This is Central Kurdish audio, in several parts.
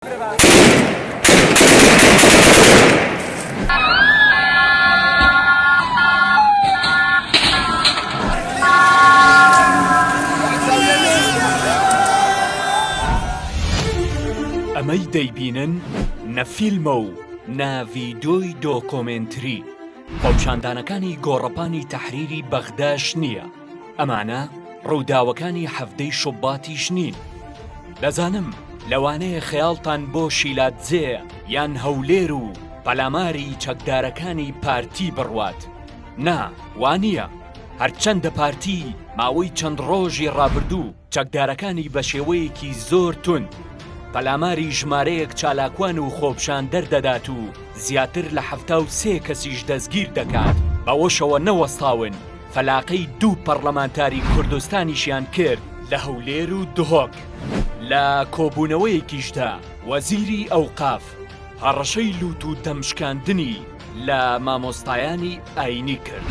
ئەمەی دەیبینن نە فیلمە و نە ڤیدۆی دۆکۆمێنتری، خۆپیشاندانەکانی گۆڕەپانی تەحریری بەغداش نییە. ئەمانە ڕووداوەکانی حەڤدەی شوباتیش نین دەزانم لەوانەیە خەیاڵتان بۆ شیلادزێ یان هەولێر و پەلاماری چەکدارەکانی پارتی بڕوات نا وانە هەرچەندە پارتی ماوەی چەند ڕۆژی ڕابردوو چەکدارەکانی بە شێوەیەکی زۆر تون پەلاماری ژمارەیەک چالاکوان و خۆپشان دەردەدات و زیاتر لە حەفتا و سێ کەسیش دەستگیر دەکات بەوەشەوە نەوەستاون فەلاقەی دوو پەڕلەمانتاری کوردستانیشیان کرد لە هەولێر و دهۆک. لە کۆبوونەوەیەکیشدا وەزیری ئەوقاف هەڕەشەی لووت و دەمشکاندنی لە مامۆستایانی ئایینی کرد.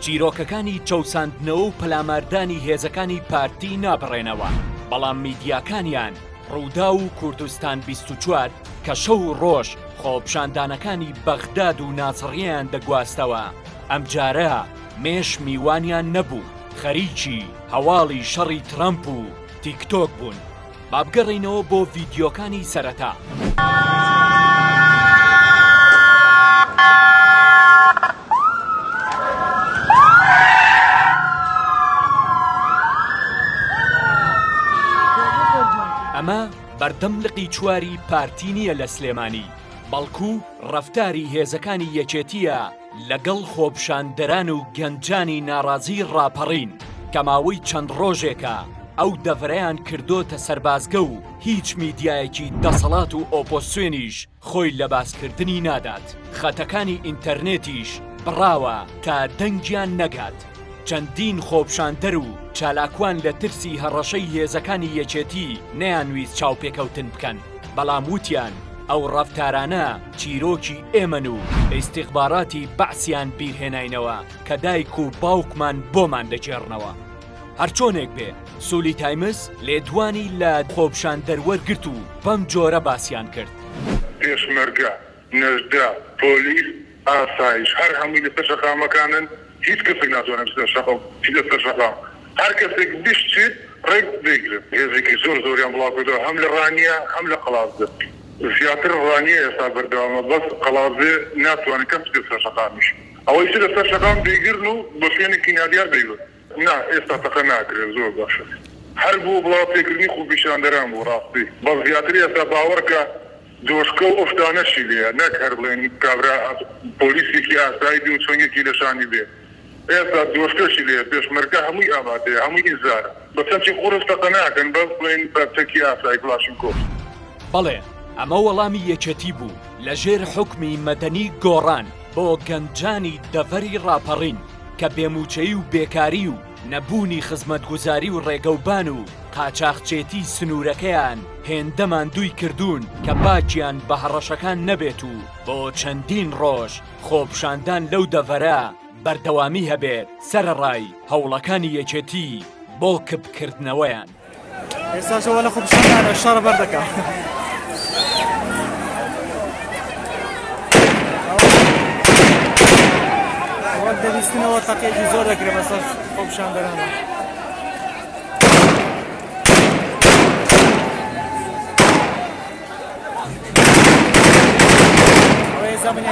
چیرۆکەکانی چەوساندنەوە و پەلاماردانی هێزەکانی پارتی نابڕێنەوە، بەڵام میدیاکانیان رووداو و کوردستان بیست و چوار کە شەو و رۆژ خۆپشاندانەکانی بەغداد و ناسڕیەیان دەگواستەوە، ئەمجارە مێش میوانیان نەبوو، خەریکی هەواڵی شەڕی ترەمپ و تیک تۆک بوون. با بگەڕێینەوە بۆ ڤیدیۆکانی سەرەتا. ئەمە بەردەم لقی چواری پارتی نییە لە سلێمانی، بەڵکو ڕەفتاری هێزەکانی یەکێتییە، لەگەڵ خۆپشاندەران و گەنجانی ناڕازی ڕاپەڕین کە ماوەی چەند ڕۆژێکە ئەو دەڤەرەیان کردۆتە سەربازگە و هیچ میدیایەکی دەسەڵات و ئۆپۆسیۆنیش خۆی لە باسکردنی نادات خەتەکانی ئینتەرنێتیش بڕاوە تا دەنگیان نەگات. چەندین خۆپشاندەر و چالاکوان لە ترسی هەڕەشەی هێزەکانی یەکێتی نەیانویست چاوپێکەوتن بکەن، بەڵام وتیان ئەو ڕەفتارانە چیرۆکی ئێمەن و ئیستیخباراتی بەعسیان بیرهێناینەوە کە دایک و باوکمان بۆمان دەگێڕنەوە. هەرچۆنێک بێ، سولی تایمز لێدوانی لە خۆپشاندەر وەرگرت و بەم جۆرە باسیان کرد. پێشمەرگە نەجدە، پۆلیس، ئاسایش هەر هەمووی لەسەر شەقامەکانن، هیچ کەسێک ناتوانێت بچێتە شەقام، بچیتە سەر شەقام، هەر کەسێک بشچێت ڕێک دەیگرن، هێزێکی زۆر زۆریان بڵاوکردووە هەم لە ڕانیە هەم لە قەڵادزێ، زیاتر ڕانیە ئێستا بەردەوامە بەس قەڵادزێ ناتوانێت کەس بچێتە سەر شەقامیش ئەوەی چووە سەر شەقام دەیگرن و بۆ شوێنێکی نادیار دەیبەن. نا ئێستا تەقە ناکرێت زۆر باشە هەر بۆ بڵاو پێکردنی خوپیشاندەران بوو ڕاستی بەس زیاتر ئێستا باوەڕکە دۆشکەو ئەو شتانەشی لێیە نەک هەر بڵێن کابرا پۆلیسێکی ئاسایی بێ و چۆنگێکی لە شانی بێ ئێستا دۆشکەشی لێیە پێشمەرگە هەمووی ئامادەیە هەمووی ئیزارە بەس چەمچی قورس تەقە ناکەن بەس بڵێن بە چەکی ئاسایی کڵاشینکۆف. بەڵێ ئەمە وەڵامی یەکێتی بوو لەژێر حوکمی مەدەنی گۆڕان. بۆ گەنجانی دەڤەری ڕاپەڕین کە بێ مووچەی و بێکاری و نەبوونی خزمەتگوزاری و ڕێگەوبان و قاچاخچێتی سنوورەکەیان هێندە ماندووی کردوون کە باکیان بە هەڕەشەکان نەبێت و بۆ چەندین ڕۆژ خۆپشاندان لەو دەڤەرە بەردەوامی هەبێت سەرەڕای هەوڵەکانی یەکێتی بۆ کپکردنەوەیان. ئێستا شەوە لە خۆپشاندانە شەڕە بەر دەکا وەک دەویستنەوە تەقێکی زۆر دەکرێت بەسەر خۆپشاندەرانە زمانی